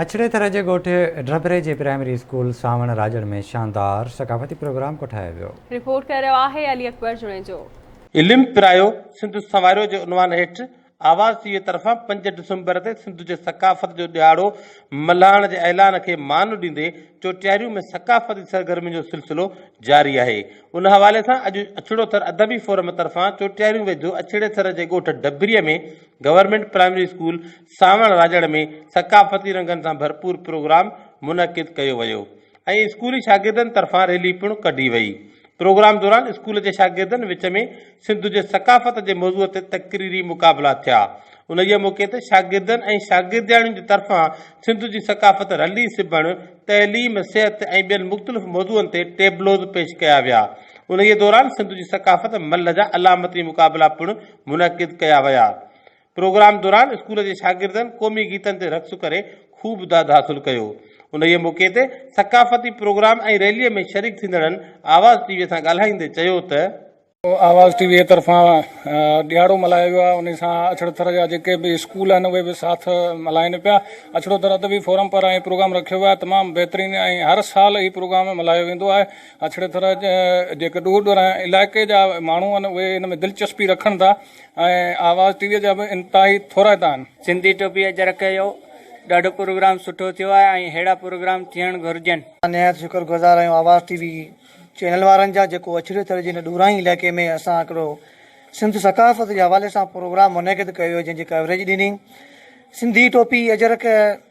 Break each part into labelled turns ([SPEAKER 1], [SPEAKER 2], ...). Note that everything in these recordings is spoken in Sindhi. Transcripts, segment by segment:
[SPEAKER 1] اڇڙي ٿر جي ڳوٺ ڍرڀري جي پرائمري اسڪول سانوڻ راڄڙ ۾ شاندار ثقافتي پروگرام ڪوٺايو ويو. رپورٽ ڪري رهيو آهي
[SPEAKER 2] علي اڪبر جوڻيجو. علم پرايو
[SPEAKER 3] سنڌ سنواريو جي عنوان هيٺ آواز ٽي وي طرفان پنج ڊسمبر تي سنڌ جي ثقافت جو ڏهاڙو ملهائڻ جي اعلان کي مان ڏيندي چوٽياريون ۾ ثقافتي سرگرمين جو سلسلو جاري آهي ان حوالي سان اڄ اڇڙو ٿر ادبي فورم طرفان چوٽياريون ويجهو اڇڙي ٿر جي ڳوٺ Dhabhri ۾ government primary school Sanwan Rajar ۾ ثقافتي رنگن سان ڀرپور پروگرام منعقد ڪيو ويو ۽ اسڪولي شاگردن طرفان ريلي پڻ ڪڍي وئي پروگرام دوران اسڪول جي شاگردن وچ ۾ سنڌ جي ثقافت جي موضوع تي تقريري مقابلا ٿيا انهيء موقعي تي شاگردن ۽ شاگردياڻين جي طرفان سنڌ جي ثقافت رلي سبڻ تعليم صحت ۽ ٻين مختلف موضوعن تي ٽيبلوز پيش ڪيا ويا انهيء دوران سنڌ جي ثقافت ملهه جا علامتي مقابلا پڻ منعقد ڪيا ويا پروگرام دوران اسڪول جي شاگردن قومي گيتن تي رقص ڪري خوب داد حاصل ڪيو. انهيء موقعي تي ثقافتي پروگرام ۽ ريلي ۾ شريڪ ٿيندڙن آواز ٽي وي سان ڳالهائيندي چيو ته. آواز ٽي
[SPEAKER 4] وي طرفان ڏهاڙو ملهايو ويو آهي انهي سان اڇڙو ٿر جا جيڪي به اسڪول آهن اهي به ساٿ ملهائين پيا اڇڙو ٿر ادبي فورم پاران هي پروگرام رکيو ويو آهي تمام بهترين ۽ هر سال هي پروگرام ملهايو ويندو آهي اڇڙي ٿر جيڪي ڏور ڏوران علائقي جا ماڻهو آهن اهي ان ۾ دلچسپي رکن ٿا ۽ آواز ٽي وي جا به انتهائي ٿورائتا آهن. سنڌي ٽوپي اجرڪ
[SPEAKER 5] جو ڏاڍو پروگرام سٺو ٿيو آهي ۽ اهڙا پروگرام ٿيڻ گهرجن. اسان نهايت شڪر گذار
[SPEAKER 6] آهيون آواز ٽي وي چينل وارن جا جيڪو اڇڙي ٿر جي هن ڏورانهين علائقي ۾ اسان هڪڙو سنڌ ثقافت جي حوالي سان پروگرام منعقد ڪيو ويو جنهن جي ڪوريج ڏني سنڌي ٽوپي اجرڪ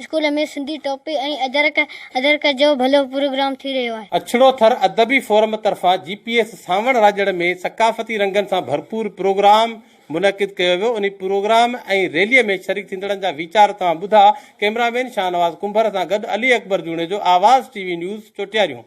[SPEAKER 7] اسڪول ۾ سنڌي ٽوپي ۽ ادرڪ ادرڪ جو ڀلو پروگرام ٿي رهيو آهي. اڇڙو ٿر ادبي
[SPEAKER 3] فورم طرفان GPS Sanwan Rajar ۾ ثقافتي رنگن سان ڀرپور پروگرام منعقد ڪيو ويو انهي پروگرام ۽ ريلي ۾ شريڪ ٿيندڙن جا ويچار توهان ٻڌا ڪئميرا مين شاهنواز ڪنڀر سان گڏ Ali Akbar Junejo Awaz TV news Chotiari.